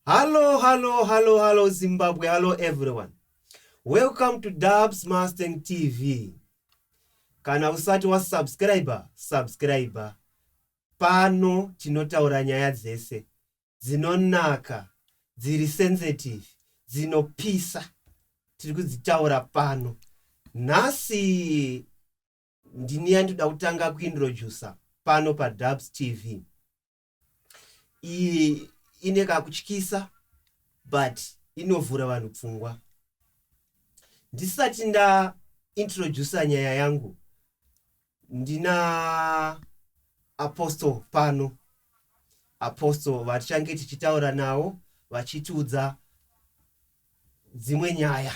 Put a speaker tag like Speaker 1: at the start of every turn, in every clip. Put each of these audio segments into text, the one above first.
Speaker 1: Hallo, hallo, hallo, hallo Zimbabwe, hallo everyone. Welcome to Dubs Mustang TV. Kana usati wa subscriber, subscriber. Pano tinotaura nyaya dzese dzinonaka, dziri sensitive, dzinopisa. Tiri kudzitaura pano. Nhasi ndini yandoda kutanga kuintroducer pano pa Dubs TV. iyi ine kakutyisa but inovhura vanhu pfungwa ndisati nda introducer nyaya yangu ndina apostle pano apostle vatichange tichitaura nawo vachitiudza dzimwe nyaya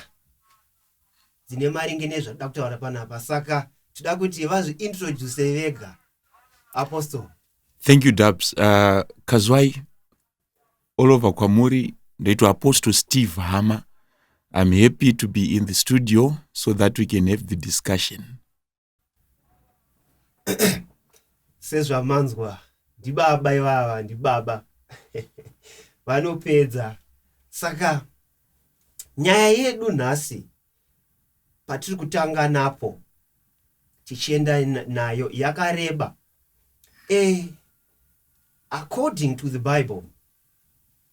Speaker 1: dzine maringe nezvatoda kutaura panapa saka toda kuti vazviintroduce vega apostle thank you dubs uh, kazwai all over kwamuri ndoitwa apostle steve hama i'm happy to be in the studio so that we can have the discussion sezvamanzwa ndibaba ivava ndibaba vanopedza saka nyaya yedu nhasi patiri kutanga napo tichienda nayo yakareba e according to the bible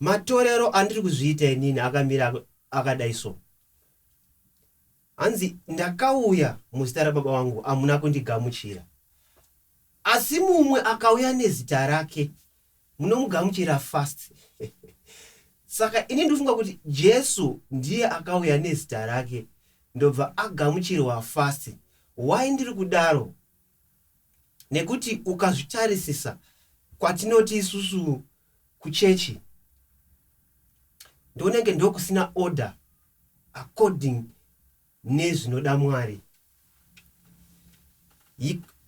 Speaker 1: matorero andiri kuzviita inini akamira akadai so hanzi ndakauya muzita rababa vangu hamuna kundigamuchira asi mumwe akauya nezita rake munomugamuchira fast saka ini ndofunga kuti jesu ndiye akauya nezita rake ndobva agamuchirwa fast why ndiri kudaro nekuti ukazvitarisisa kwatinoti isusu kuchechi ndonenge ndokusina order according nezvinoda mwari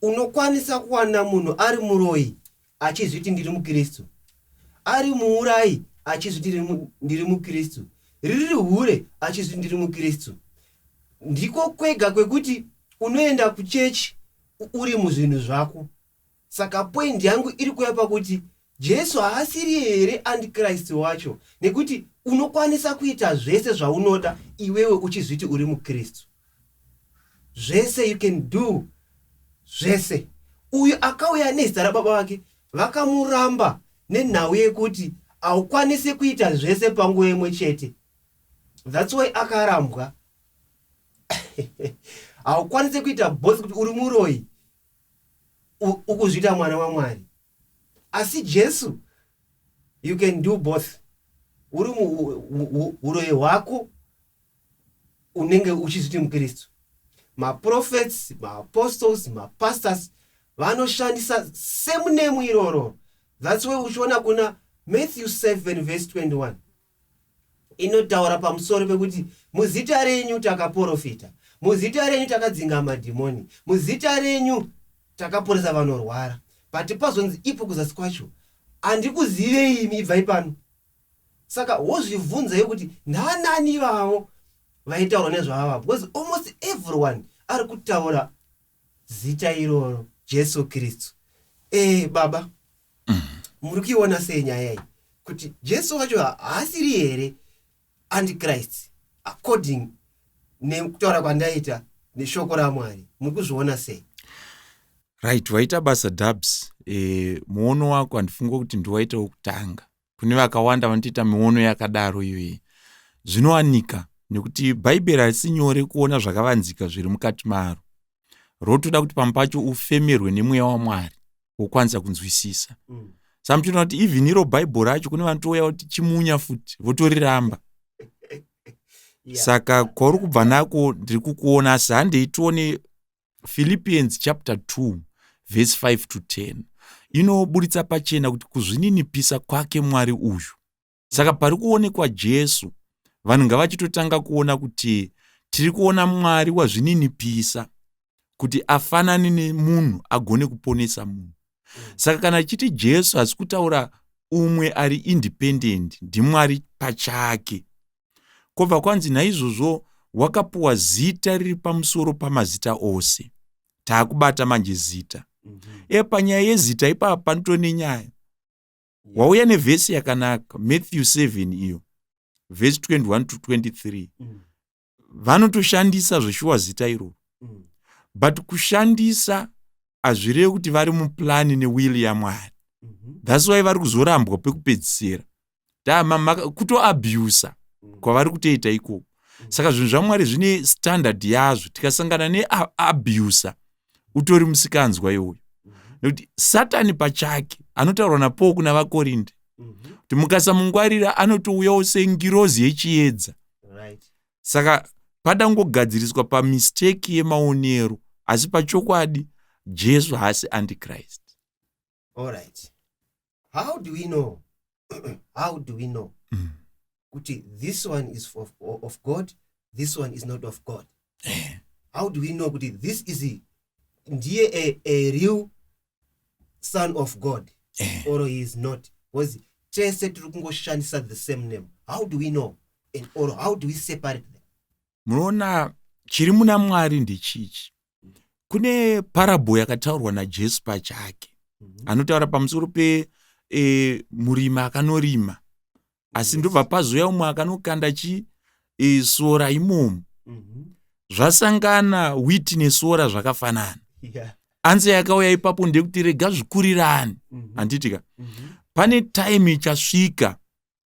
Speaker 1: unokwanisa kuwana munhu ari muroyi achizviti ndiri muKristu, ari muurayi achizviti ndiri muKristu, riri hure achizviti ndiri muKristu. Ndiko kwega kwekuti unoenda kuchechi uri muzvinhu zvako. Saka point yangu iri kuya pakuti Jesu haasiri here andiKristu wacho nekuti unokwanisa kuita zvese zvaunoda iwewe uchizviti uri muKristu. zvese you can do zvese uyu akauya nezita rababa vake vakamuramba nenhau yekuti haukwanise kuita zvese panguva imwe chete thats why akarambwa haukwanise kuita both kuti uri muroyi ukuzviita mwana wamwari asi jesu you can do both uri uroyi hwako unenge uchizviti mukristu maprofets maapostles mapastors vanoshandisa same name iroro thats way uchiona kuna matthew 7 vese 21 inotaura pamusoro pekuti muzita renyu takaprofita muzita renyu takadzinga madhimoni muzita renyu takaporesa vanorwara but pazonzi ipo kuzasi kwacho handikuzivei imi ibvai pano saka wozvibvunzei kuti ndanani ivavo vaitaurwa nezvaava because almost everyone ari kutaura zita iroro jesu kristu e, baba mm. muri kuiona sei nyaya iyi kuti jesu wacho haasiri here antichrist according nekutaura kwandaita neshoko ramwari muri kuzviona sei right waita basa dubs e, muono wako handifunga kuti ndiwaita wokutanga kune vakawanda vanotoita miono yakadaro iyoyi zvinowanika nekuti bhaibheri harisi nyore kuona zvakavanzika zviri mukati maro rotoda kuti pamwe pacho ufemerwe nemweya wamwari wokwanisa kunzwisisa mm. samuchinoona kuti even iro bhaibheri racho kune vanotouya kuti chimunya futi votoriramba saka kwauri kubva nako ndiri kukuona asi handei tione philippians chapter 2 vhesi 5 to 10 inoburitsa pachena kuti kuzvininipisa kwake mwari uyu saka pari kuonekwa jesu vanhu ngavachitotanga kuona kuti tiri kuona mwari wazvininipisa kuti afanane nemunhu agone kuponesa munhu saka kana chiti jesu hasi kutaura umwe ari independent ndimwari pachake Kobva kwanzi naizvozvo wakapuwa zita riri pamusoro pamazita ose. Taakubata manje zita. Mm -hmm. E panyaya yezita ipapa panotove nenyaya. Yeah. Wauya nevhesi yakanaka Matthew 7 iyo vhesi 21 to 23. Mm. Vanotoshandisa zveshuwa zita iroro. Mm. But kushandisa hazvirevi kuti vari muplani newili yamwari. Mm -hmm. That's why vari kuzorambwa pekupedzisira. kutoabusa mm. kwavari kutoita ikoko mm. saka zvinhu zvamwari zvine standard yazvo tikasangana neabusa utori musikanzwa iwoyo mm-hmm. nekuti satani pachake anotaurwa napowo kuna vakorinde mm-hmm. kuti mukasamungwarira anotouyawo sengirozi yechiedza saka padangogadziriswa pamisteki yemaonero asi pachokwadi jesu haasi antichrist alright how do we know how do we know mm. kuti this one is of, of god this one is not of god eh. how do we know kuti this is a, ndiye a, a real son of god eh. or he is not because tese tiri kungoshandisa the same name how do we know and or how do we separate them munoona chiri muna mwari ndechichi kune parabho yakataurwa najesu pachake mhm. anotaura pamusoro pe e, murimi akanorima asi ndobva pazouya umwe akanokanda chi e, sora imomo mhm. zvasangana witi nesora zvakafanana anze yakauya ipapo ndekuti rega zvikurirani mhm. handitika pane time ichasvika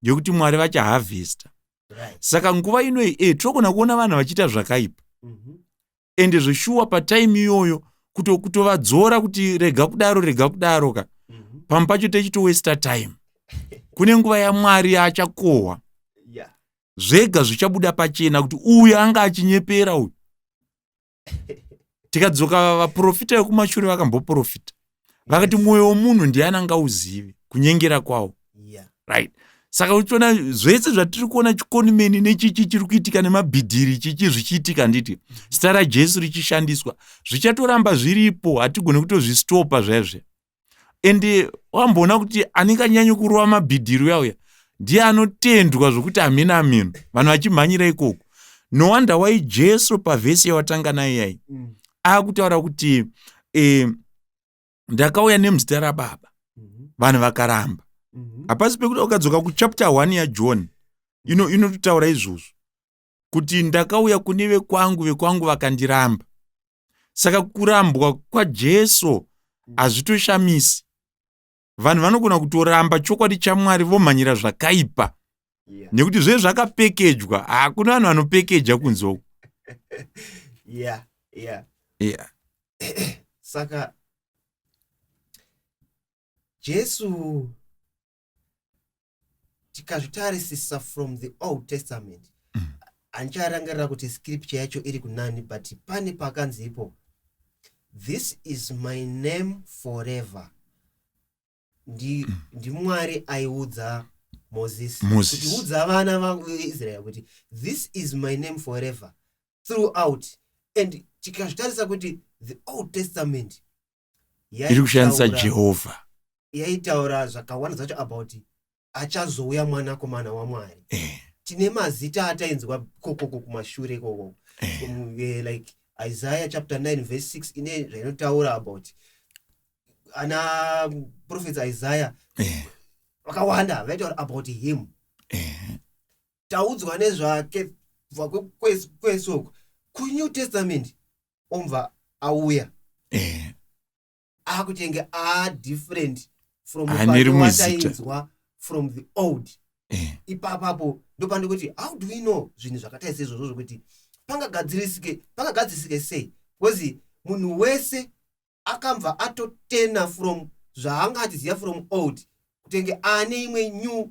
Speaker 1: yekuti mwari vachahavhesta saka nguva inoyi e tinogona kuona vanhu vachiita zvakaipa mhm. ende zveshuwa patime iyoyo kutovadzora kuti rega kudaro rega kudaro ka mhm. pamwe pacho techitowesta time kune nguva yamwari yaachakohwa zvega zvichabuda pachena kuti uyu anga achinyepera uyu tikadzoka vaprofita vekumashure vakamboprofita vakati mwoyo womunhu ndiani angauzivi kunyengera kwawo yeah. right saka uchiona zvese zvatiri kuona chikonimeni nechichi chiri kuitika nemabhidhiri chichi zvichiitika handiti zita rajesu richishandiswa zvichatoramba zviripo hatigone kutozvistopa zvaizve and eh, wamboona kuti anenge anyanya kurova mabhidhiri uya uya ndiye anotendwa zvokuti hamheno hamheno vanhu vachimhanyira ikoko no wonder why jesu pavhesi yawatanga nayo yai mm. akutaura kuti eh, ndakauya nemuzita rababa mhm. vanhu vakaramba mhm. hapasi pekuti ukadzoka kuchapter one yajohn inototaura izvozvo kuti ndakauya kune vekwangu vekwangu vakandiramba saka kurambwa kwajesu hazvitoshamisi vanhu vanogona kutoramba chokwadi chamwari vomhanyira zvakaipa yeah. nekuti zve zvakapekejwa hakuna vanhu vanopekeja kunzoko yeah, yeah. yeah. saka jesu tikazvitarisisa from the old testament mm. handicharangarira kuti scripture yacho iri kunani but pane pakanzi ipo this is my name forever ndi, mm. ndi mwari aiudza moses kuti udza vana vaisrael kuti this is my name forever throughout and tikazvitarisa kuti the old testament iri kushandisa jehovha yaitaura zvakawanda zvacho about achazouya mwanakomana wamwari eh. tine mazita atainzwa kokoko kumashure ikoko eh. um, eh, like isaiah chapter 9 verse 6 ine zvainotaura about ana profets isaiah eh. vakawanda eh. vaitaura about him eh. taudzwa nezvake kubva kwesoko kunew testament omva auya eh. akuti enge a different from watainzwa from the old eh. ipapapo ndopandikuti how do we know zvinhu zvakatai seizvozvo zvokuti pangagadzirisike pangagadzisike sei because munhu wese akambva atotena from zvaanga achiziva from old kutenge aane imwe new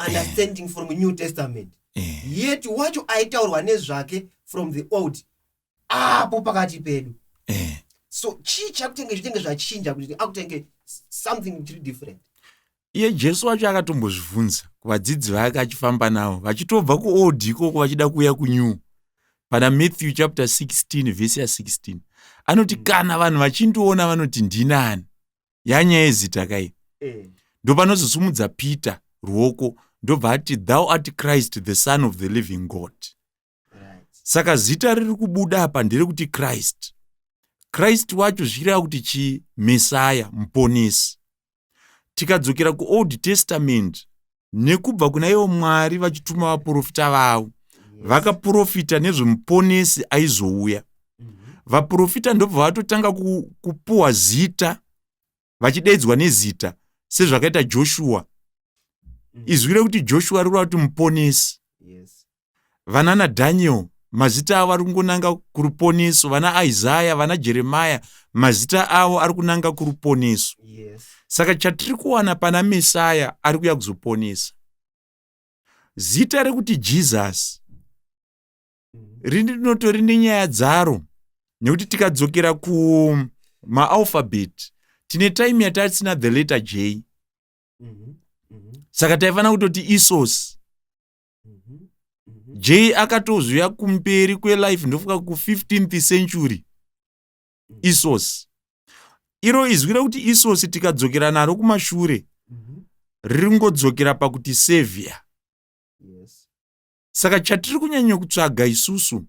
Speaker 1: understanding from new testament eh. yet wacho aitaurwa nezvake from the old apo pakati pedu eh. so chii chakutenge zvitenge zvachinja kuti akutenge something chiri different iye jesu wacho akatombozvivhunza kuvadzidzi vake achifamba navo vachitobva kuold ikoko vachida kuuya kunew pana matthew chapter 16 vhesi ya 16 anoti mm. kana vanhu vachindiona vanoti ndinani yanyaya yezita kai eh. ndopanozosumudza peter ruoko ndobva ati thou art christ the son of the living god saka zita riri kubuda apa nderekuti christ christ wacho zvichireva kuti chii mesaya muponesi tikadzokera kuold testament nekubva kuna ivo mwari vachituma vaprofita vavo vakaprofita nezvemuponesi aizouya vaprofita ndobva vatotanga kupuwa zita vachidaidzwa nezita sezvakaita joshua mm. izwi rekuti joshua riri kuti muponesi vanana daniel mazita avo ari kungonanga kuruponeso vana isaya vana jeremaya mazita avo ari kunanga kuruponeso yes. saka chatiri kuwana pana mesaya ari kuya kuzoponesa zita rekuti jesus rinotori nenyaya dzaro nekuti tikadzokera kumaalphabet tine time yatasina the letter j mhm, mhm. saka taifanira kutoti isos mhm, j akatozviuya kumberi kwelife ndofuka ku15th century isos iro izwi rekuti isos tikadzokera naro kumashure riri ngodzokera pakuti savior saka chatiri kunyanya kutsvaga isusu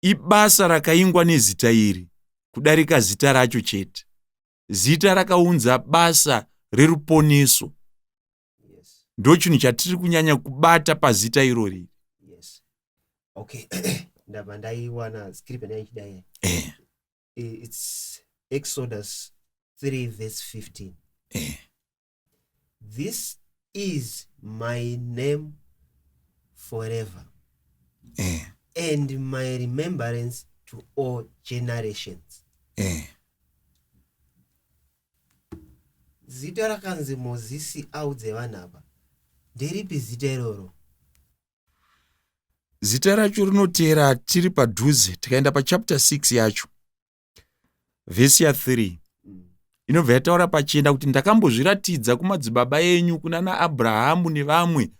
Speaker 1: ibasa rakaingwa nezita iri kudarika zita racho chete zita rakaunza basa reruponeso ndo chinhu chatiri kunyanya kubata pazita irori yes. okay. ndabva ndaiwana script ndaichidai eh. its exodus 3 verse 15 eh. this is my name forever eh. and my remembrance to all generations eh. zita rakanzi mozisi audze vanhu apa nderipi zita iroro zita racho rinoteera tiri padhuze tikaenda pachapter 6 yacho vhesi ya 3 inobva yataura pachena kuti ndakambozviratidza kumadzibaba enyu kuna naabrahamu nevamwe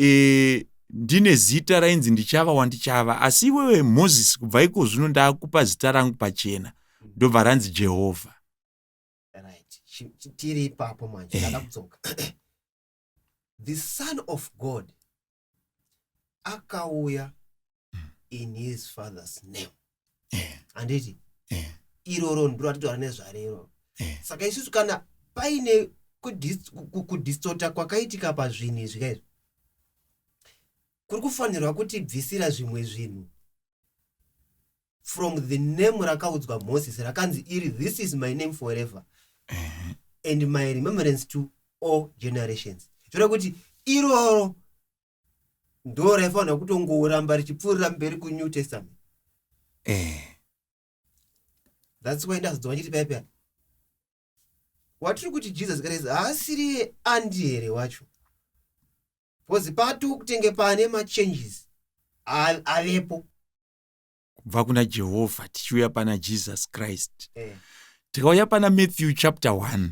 Speaker 1: e, ndine zita rainzi ndichava wandichava asi iwewe mozisi kubva iko zvino ndakupa zita rangu pachena ndobva ranzi jehovha tiri ipapo manje ndakudzoka the son of god akauya in his father's name eh. handiti eh. iroro ndiro atitaura nezvarero eh. saka isusu kana paine kudistota kwakaitika pazvinhu izvi kaizvo kuri kufanirwa kutibvisira zvimwe zvinhu from the name rakaudzwa moses rakanzi iri this is my name forever and my remembrance to all generations zvoreva kuti iroro ndo raifanira kutongoramba richipfuurira mberi kunew testament eh. thats why ndazodzwa chiti paya paya watiri kuti jesus christ haasiri andi here wacho bcause pati kutenge pane machanges avepo kubva kuna jehovha tichiuya pana jesus christ eh. tikauya pana matthew chapter 1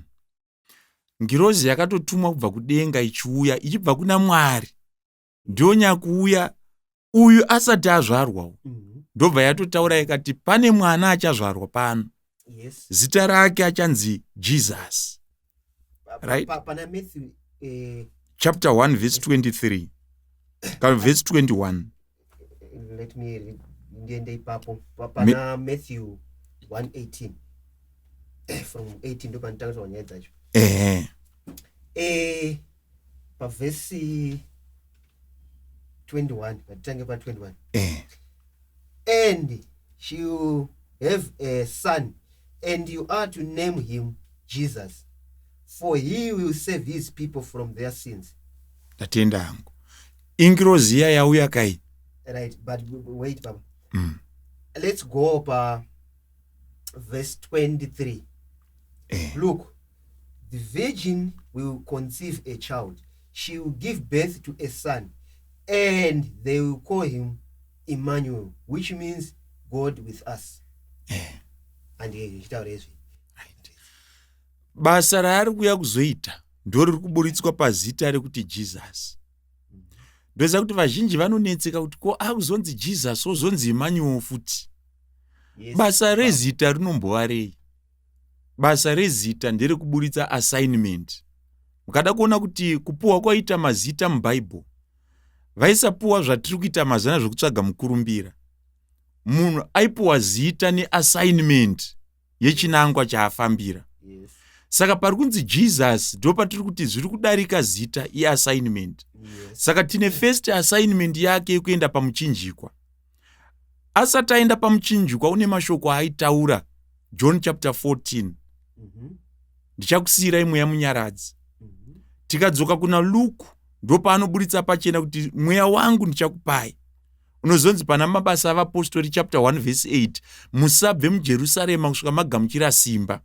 Speaker 1: ngirozi yakatotumwa kubva kudenga ichiuya ichibva kuna mwari ndiyo nyakuuya uyu asati azvarwa mhm. ndobva yatotaura ikati pane mwana achazvarwa pano yes. zita rake achanzi jesus right? pa, pa, Matthew, eh, chapter 1 verse 23 kana verse 21 let me read ndiende ipapo pana Me... matthew 118 eh, from 18 ndopanditanga tonyaya dzacho ehe eh, pavhesi 21 patitange pa 21 eh. and you have a son and you are to name him jesus for he will save his people from their sins ndatenda hangu ingirozi iya yauya kai right but wait baba mm. let's go pa verse 23 eh. look The virgin will conceive a child, she will give birth to a son, and they will call him Emmanuel, which means God with us. Eh. And ndichitaura izvi. Basa raari kuuya kuzoita ndo riri kuburitswa pazita rekuti Jesus. Ndoziva kuti vazhinji vanonetseka kuti ko akuzonzi Jesus ozonzi Emmanuel futi. Yes, basa rezita rinombova rei? basa rezita ndere kuburitsa assignment mukada kuona kuti kupuwa kwaita mazita mubhaibheri vaisapuwa zvatiri kuita mazana zvekutsvaga mukurumbira munhu aipuwa zita neassignment yechinangwa chaafambira yes. saka pari kunzi jesus ndo patiri kuti zviri kudarika zita iassignment yes. saka tine first assignment yake yekuenda pamuchinjikwa asati aenda pamuchinjikwa une mashoko aaitaura john chapter 14 mhm. ndichakusiyirai mweya munyaradzi mhm. tikadzoka kuna luku ndopaanoburitsa pachena kuti mweya wangu ndichakupai unozonzi pana mabasa avapostori chapter 1 vhesi 8 musabve mujerusarema kusvika magamuchira simba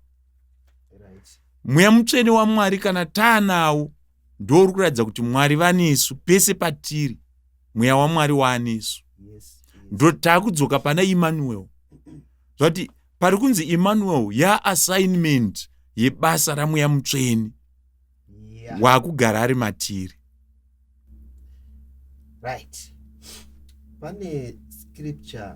Speaker 1: mweya mutsvene wamwari kana taanawo ndouri kuratidza kuti mwari vanesu pese patiri mweya wamwari waanesu ndo taakudzoka pana emmanuel zvati pari kunzi emmanuel yaassignment yebasa ramweya mutsveni waakugara ari matiri right pane scripture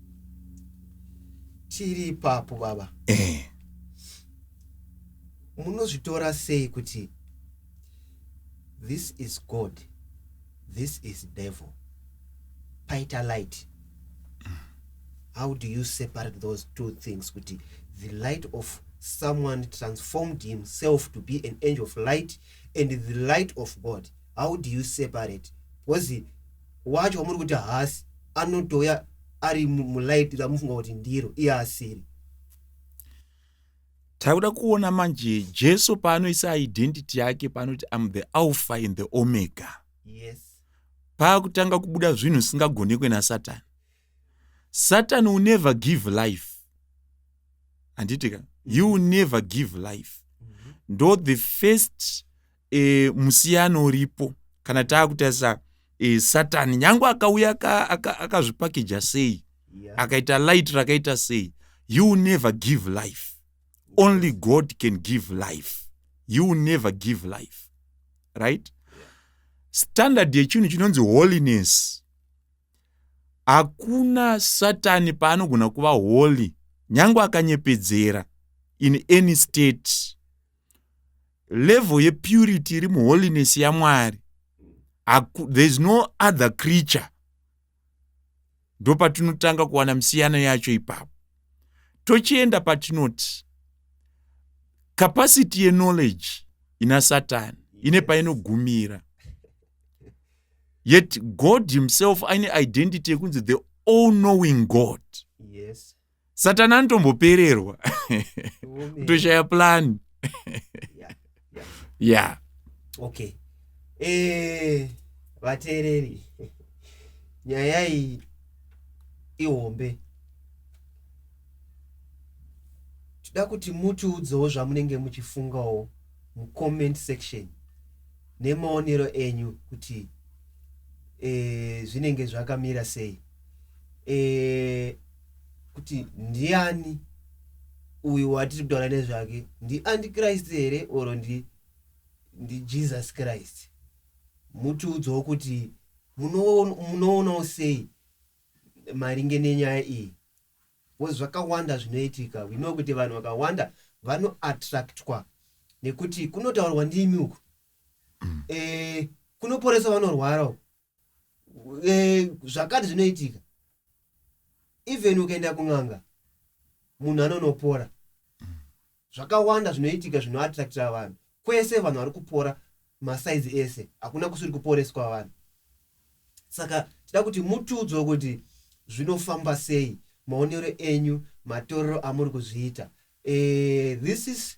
Speaker 1: tiri ipapo baba eh. munozvitora sei kuti this is god this is devil paita light how do you separate those two things kuti the light of someone transformed himself to be an angel of light and the light of god how do you separate because wacho wamuri kuti haasi anotouya ari mulight ramufunga kuti ndiro iye asiri takuda kuona manje jesu paanoisa identity yake paanoti am the alpha and the omega yes paakutanga kubuda zvinhu zvisingagonekwe nasatani satan will never give life handitika you will never give life mm -hmm. ndo the first e, musiyano uripo kana taakutarisa e, satani nyange akauya akazvipakeja aka, aka sei yeah. akaita light rakaita sei you never give life only god can give life you never give life right standard yechinhu chinonzi holiness hakuna satani paanogona kuva holy nyange akanyepedzera in any state level yepurity iri muholiness yamwari thereis no other creature ndo patinotanga kuwana misiyano yacho ipapo tochienda patinoti capacity yeknowledge ina satani ine painogumira yet god himself aine identity yekunzi the all knowing god yes. satani anotombopererwa kutoshaya plan ya okay eh, vateereri nyaya iyi ihombe tida kuti mutiudzewo zvamunenge muchifungawo mucomment section nemaonero enyu kuti e, zvinenge zvakamira sei e, kuti ndiani uyu watiri kutaura nezvake ndiantichrist here or ndi ndijesus christ mutiudzawo kuti munoonawo sei maringe nenyaya iyi bcause zvakawanda zvinoitika wino kuti vanhu vakawanda vanoattractwa nekuti kunotaurwa ndimi uku mm. e, kunoporesa vanorwara uku eh, zvakati zvinoitika even ukaenda kun'anga munhu anonopora zvakawanda zvinoitika zvinoattractira vanhu kwese vanhu vari kupora masaizi ese hakuna kusiri kuporeswa vanhu saka tida kuti mutudzwa kuti zvinofamba sei maonero enyu matorero amuri kuzviita e, this is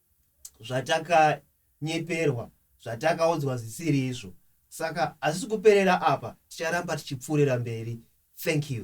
Speaker 1: zvatakanyeperwa zvatakaudzwa zvisiri izvo saka hazvisi kuperera apa ticharamba tichipfuurira mberi thank you